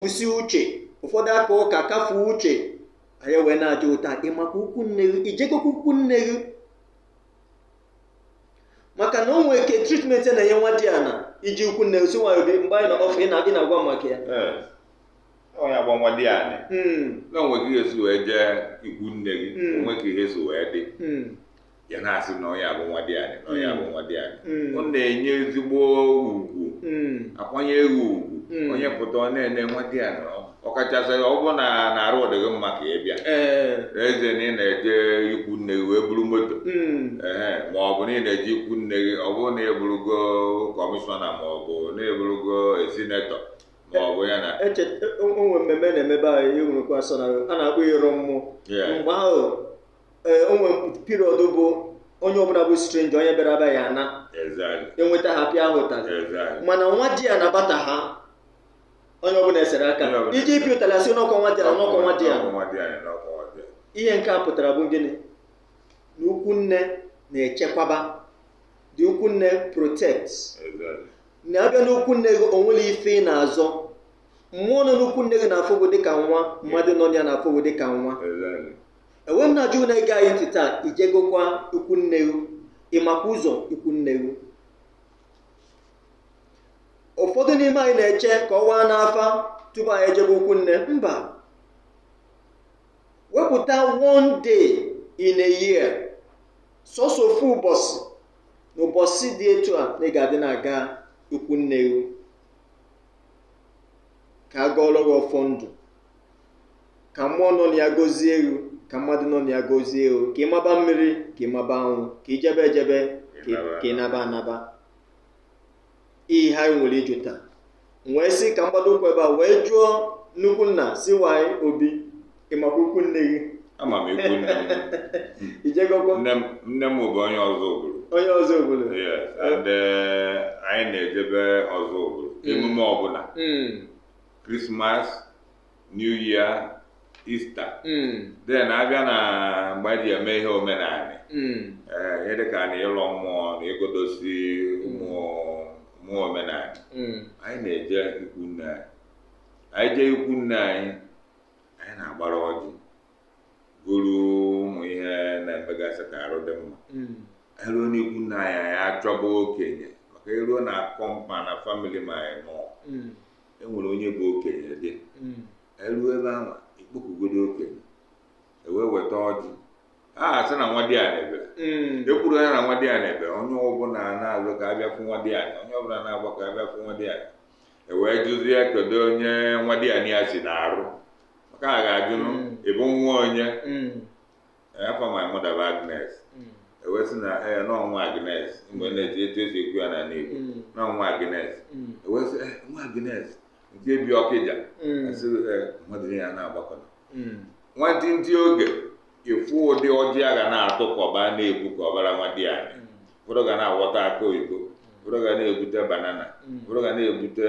na-ekwusi uche ụfọdụ aka ụka kafuo uche anyị wee na-ajụ taa ị makwa ikwu nne gị ijegokwa ikwu nne gị maka na o nwee ke treatment a na-enye nwadiana eje ikwu nne gị C.Y. Obi mgbe anyị nọ off ị na- ị na-agwa m maka ya Ee. onye a bụ nwadianị Mm, na onwe gị esi wee jee ikwu nne gị Mm. o nwee ka ihe si wee dị mm, ya na-asị na onye a bụ nwadianị na onye a bụ nwadianị mm. ọ na-enye ezigbo ugwu mm. akwanyere gị ugwu mm. onye pụta ọ na-ene nwadianị ọkachasị ọ bụ na arụ dị gị mma ka ị bịa eze na ị na-eje ikwu nne gị wee buru moto ee ma ọ bụ na ị na-eje ikwu nne gị ọ bụrụ na ị bụrụgo commissioner ma ọ bụ na ị bụrụgo senator ma ọ bụ ya na e, o nwee mmemme na-eme be anyị enwerekwa sọ na a na-akpọ ịrọ mmụọ mgbe ahụ ee o nwere period bụ onye ọbụla bụ strange onye bịara abịa a na Exactly. enweta ha pịa ha ụtalị Exactly. mana nwadiana bata ha onye ọbụla esere aka Onye ọbụla. iji ịpịa ụtalị asị n'ọkwa nwadiana ọkwa nwadiana Ọkwa nwadiana, ọkwa nwadiana. ihe nke a pụtara bụ gịnị na ikwu nne na-echekwaba the ikwu nne protect Exactly. na ị bịa n'ikwu nne gị o nwere ife ị na-azọ mmụọ nọ n'ikwu nne gị na-afụ gị dịka nwa mmadụ nọ na ya na-afụ gị dịka nwa Exactly. ewee m na-ajụ na-ege anyị ntị taa ijegokwa ikwu nne gị ịmakwa ụzọ ikwu nne gị ụfọdụ n'ime anyị na-eche ka ọ waa n'afa tupu anyị ejebe ikwu nne mba wepụta one day in a year sọsọ ofu ụbọchị na ụbọchị dị etu a na ị ga-adị na-aga ikwu nne gị ka a gọọrọ gị ọfọ ndụ ka mmụọ nọ na ya gozie gị ka mmadụ nọ na ya gozie gị ka ị maba mmiri ka ị maba anwụ ka ị jebe ejebe ka ị- ka ị naba anaba ihe anyị nwere ịjụ taa M wee sị ka m gbado ụkwụ ebe a wee jụọ nnukwu nna C.Y. Obi ịmakwa ikwu nne gị ama m ikwu nne m ijegokwa nne m nne m bụ onye Ọzụbụlụ onye Ọzụbụlụ Yes, and eh, anyị na-ejebe Ọzụbụlụ emume ọbụla Mm. Christmas New Year Easter hmm. then abịa na mgbe anyị ji eme ihe omenala hmm. eh, ihe dịka na ịlọ mmụọ na ịgodosi ụmụ mmụọ omenala hmm. anyị na-eje ikwu nne anyị anyị jee ikwu nne anyị anyị na-agbara ọjị buru ụmụ ihe na-emegasị ka arụ dị mma hmm. eruo n'ikwu nne anyị anyị achọba okenye maka eruo na compound na family ma anyị nọ hmm. enwere onye bụ okenye dị mm. eluo ebe ahụ ikpokụgodo okenye ewee weta ọjị asị na nwa diana ebe mm. ekwuru ya na nwa diana ebe onye ọbụla na-alụ ka abịa fụ nwa diana onye ọbụla na-agba ka abịa fụ nwa diana ewee jụzie kedu onye nwa diana ya si n'arụ maka a ga-ajụ ị bụ nwa onye afa my mother bụ Agnes ewee sị na ee na ọ nwa Agnes mgbe na-eji etu esi ekwu ya n'ala Igbo na ọ nwa Agnes ewee sị ee nwa Agnes nke bi Ọkịja asị ee mmadụ niile a na-agbakọta nwantịntị oge ịfụ ụdị ọjị a ga na-atụ ka ọba na-ebu ka ọbara nwa diana ụfọdụ ga na-aghọta akị oyibo ụfọdụ ga na-ebute banana ụfọdụ ga na-ebute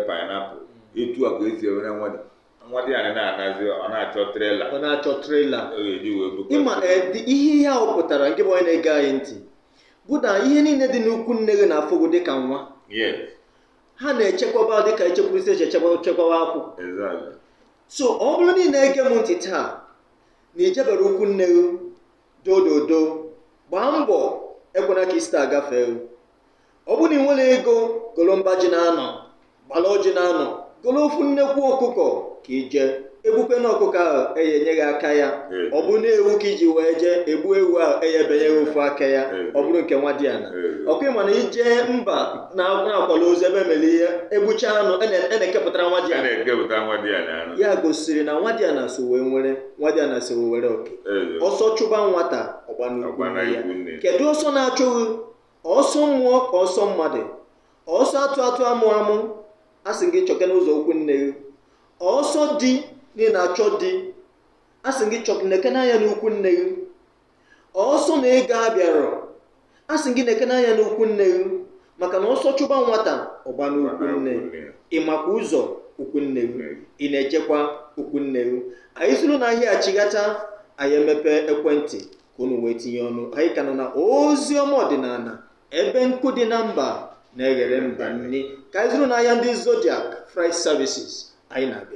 painapụl etu a ka esi ewere nwa di nwa diana na-anazi ọ na-achọ trela ọ na-achọ trela ịma eh, ihe ihe ahụ pụtara nke bụ onye na-ege anyị ntị bụ na ihe niile dị n'ukwu nne gị na-afụ gị dịka nwa ha na-echekwaba dịka echekwurisi eche chekwawa akwụ so ọ bụrụ na ị na-ege m ntị taa na ijebero ukwu nne gị dododo gbaa mbọ ekwena ka Ista gafee ọ bụrụ na ị nwere ego golo mba ji na-anọ gbala ọjị na-anọ golo ofu nnekwu ọkụkọ ka ije egbukwe na ọkụkọ ahụ eye enye gị aka ya Ee. ọ bụrụ na ewu ka iji wee jee egbuo ewu ahụ eye ebenye gị ofu aka ya Ee. ọ bụrụ nke nwa diana Ee. ọkwa ịma na ije mba na- na-akwala ozu ebe emere ihe egbucha anụ a na- a na-ekepụtara nwa diana na-ekepụta nwa diana anụ ya gosiri na nwa diana so wee nwere nwa diana so wee were oke Ee. ọsọ chụba nwata ọgba n'ukwu Ọgba nne ya. n'ukwu nne. kedu ọsọ na-achụ gị ọsọ mmụọ ka ọsọ mmadụ ọsọ atụ atụ amụ amụ a sị gị chọke n'ụzọ ukwu nne gị ọsọ di na ị na-achọ di a sị gị chọke nekene anya n'ukwu nne gị ọsọ na ego abịarọ a sị gị nekene anya n'ukwu nne gị maka na ọsọ chụba nwata ọgba n'ukwu nne ị makwa ụzọ ukwu nne gị ị na-ejekwa ukwu nne gị anyị soro na ahịa achighata anyị emepe ekwentị ka unu wee tinye ọnụ anyị ka nọ na ozi ọma ọdịnala ebe nkụ dị na mba na-eghere mba nni ka anyị zụrụ n'ahịa ndị Zodiac Freight Services anyị na-abịa